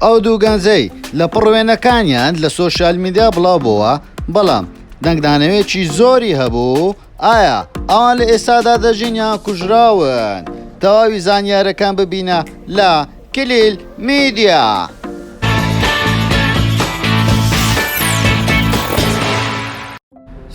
ئەو دوو گەنجەی لەپڕ وێنەکانیان لە سۆشیال میدیا بڵاو بۆوە بەڵام دەنگدانەوێکی زۆری هەبوو، ئایا ئەوان لە ئێستادا دەژین یان کوژراون؟ تەواوی زانیارەکان ببینە لە کلیل میدیا.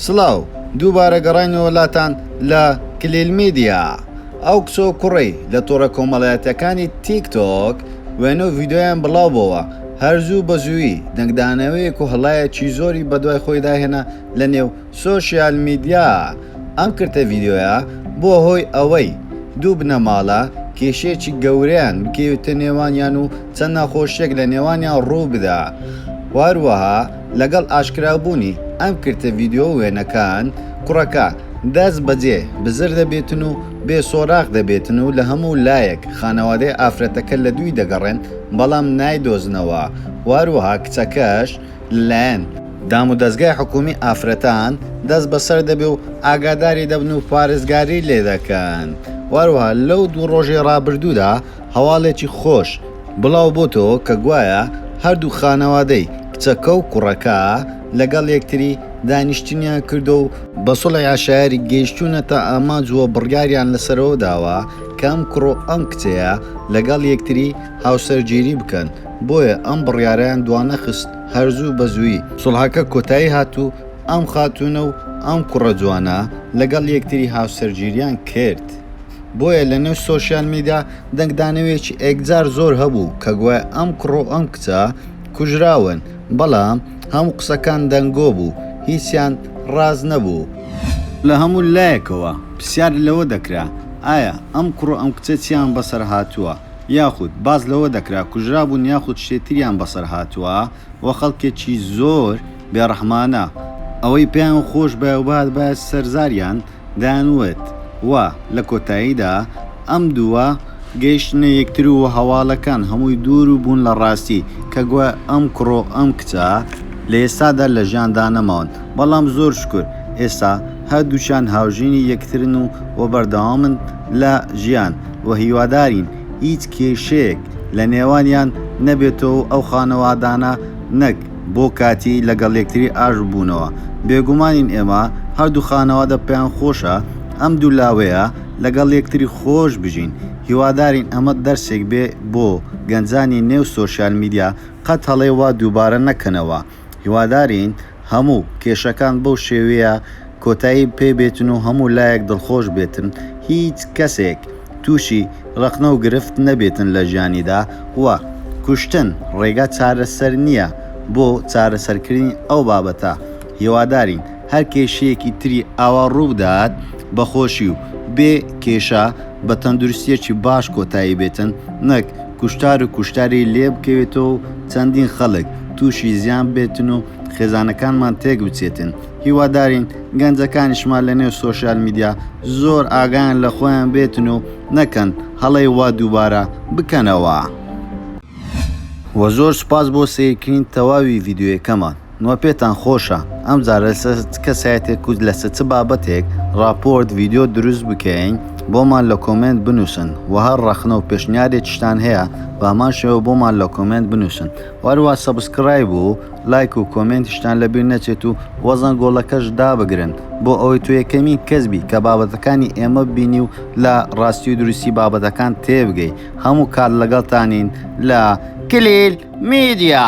سڵاو، دووبارە گەڕاینەوە لاتان لە کلیل میدیا. ئەو کچ و کوڕەی لە تۆڕە کۆمەڵایەتییەکانی تیک تۆک وێنە و ڤیدیۆیان بڵاو بۆوە، هەر زوو بە زوویی دەنگدانەوەیەک و هەڵایەکی زۆری بە دوای خۆیدا هێنا لە نێو سۆشیال میدیا. ئەم کرتە ڤیدیۆیە بووە هۆی ئەوەی دوو بنەماڵە کێشەیەکی گەورەیان بکێویتە نێوانیان و چەند ناخۆشییەک لە نێوانیان ڕوو بدا و هەروەها لەگەڵ ئاشکرابوونی ئەم کرتە ڤیدیۆ و وێنەکان، کوڕەکە دەست بەجێ بزر دەبێتن و بێ سۆراخ دەبێتن و لە هەموو لایەک خانەوادەی ئافرەتەکە لە دووی دەگەڕێن بەڵام نایدۆزنەوە و هەروەها کچەکەش لە لایەن دامودەزگای حکوومی ئافرەتان دەست بەسەر دەبێ و ئاگاداری دەبن و پارێزگاری لێ دەکەن و هەروەها لەو دوو ڕۆژەی ڕابردوودا هەواڵێکی خۆش بڵاو بۆتەوە کە گوایە هەردوو خانەوادەی کچەکە و کوڕەکە لەگەڵ یەکتری دانیشتنیان کردووە و بە سوڵحی عەشایەری گەیشتوونەتە ئامانج و بڕیاریان لەسەرەوە داوە کە ئەم کوڕ و ئەم کچەیە لەگەڵ یەکتری هاوسەرگیری بکەن، بۆیە ئەم بڕیارەیان دوانەخست هەر زوو بە زوویی سوڵحەکە کۆتایی هات و ئەم خاتوونە و ئەم کوڕە جوانە لەگەڵ یەکتری هاوسەرگیریان کرد. بۆیە لە نێو سۆشیال میدیا دەنگدانەوێکی ئێکجار زۆر هەبوو کە گوایە ئەم کوڕ و ئەم کچە کوژراون، بەڵام هەموو قسەکان دەنگۆ بوو، هیچیان ڕاست نەبوو. لە هەموو لایەکەوە پرسیار لەوە دەکرا ئایا ئەم کوڕ و ئەم کچە چیان بەسەر هاتووە، یاخود باس لەوە دەکرا کوژرابوون یاخود شتێ تریان بەسەر هاتووە و خەڵکێکی زۆر بێ ڕەحمانە ئەوەی پێیان خۆش بایە و بهاتبایە سەر زاریان، دەیانوت و لە کۆتاییدا ئەم دووە گەیشتنە یەکتر و هەواڵەکان هەمووی دوور بوون لە ڕاستی، کە گوایە ئەم کوڕ و ئەم کچە لە ئێستادا لە ژیاندا نەماون، بەڵام زۆر شوکور ئێستا هەردووکیان هاوژینی یەکترن و و بەردەوامن لە ژیان و هیوادارین هیچ کێشەیەک لە نێوانیان نەبێتەوە و ئەو خانەوادانە نەک بۆ کاتی لەگەڵ یەکتری ئاش ببوونەوە، بێگومانین ئێمە هەردوو خانەوادە پێیان خۆشە ئەم دوو لاوەیە لەگەڵ یەکتری خۆش بژین، هیوادارین ئەمە دەرسێک بێ بۆ گەنجانی نێو سۆشیال میدیا قەت هەڵەی وا دووبارە نەکەنەوە، هیوادارین هەموو کێشەکان بەو شێویە کۆتایی پێ بێتن و هەموو لایەک دڵخۆش بێتن هیچ کەسێک تووشی ڕەخنە و گرفت نەبێتن لە ژیانیدا وە کوشتن ڕێگا چارەسەر نییە بۆ چارەسەرکردنی ئەو بابەتە هیوادارین هەر کێشەیەکی تری ئاوا ڕووبدات بە خۆشی و بێ کێشە بە تەندروستیەکی باش کۆتایی بێتن نەک کوشتار و کوشتاری لێ بکەوێتەوە و چەندین خەڵک تووشی زیان بێتن و خێزانەکانمان تێک بچێتن. هیوادارین گەنجەکانیشمان لە نێو سۆشیال میدیا زۆر ئاگایان لە خۆیان بێتن و نەکەن هەڵەی وا دووبارە بکەنەوە. وە زۆر سوپاس بۆ سەیرکرین تەواوی ڤیدیۆیەکەمان وە پێتان خۆشە ئەم جارە لەسەر چ کەسایەتێک و لەسە چ بابەتێک ڕاپۆرت ڤیدیۆ دروست بکەین بۆمان لە کۆمێنت بنوسن وە هەر ڕەخنە و پێشنیارێکیشتان هەیە بەهەمان شێوە بۆمان لە کۆمێنت بنوسن وە هەروە سەبسکرایب و لایک و کۆمێنتیشتان لەبیر نەچێت و وەزەن گۆڵەکەش دابگرن بۆ ئەوەی تۆ یەکەمین کەس بی کە بابەتەکانی ئێمە ببینی و لە ڕاستی و دروستی بابەتەکان تێبگەی هەموو کات لەگەڵتانین لە کلیل میدیا.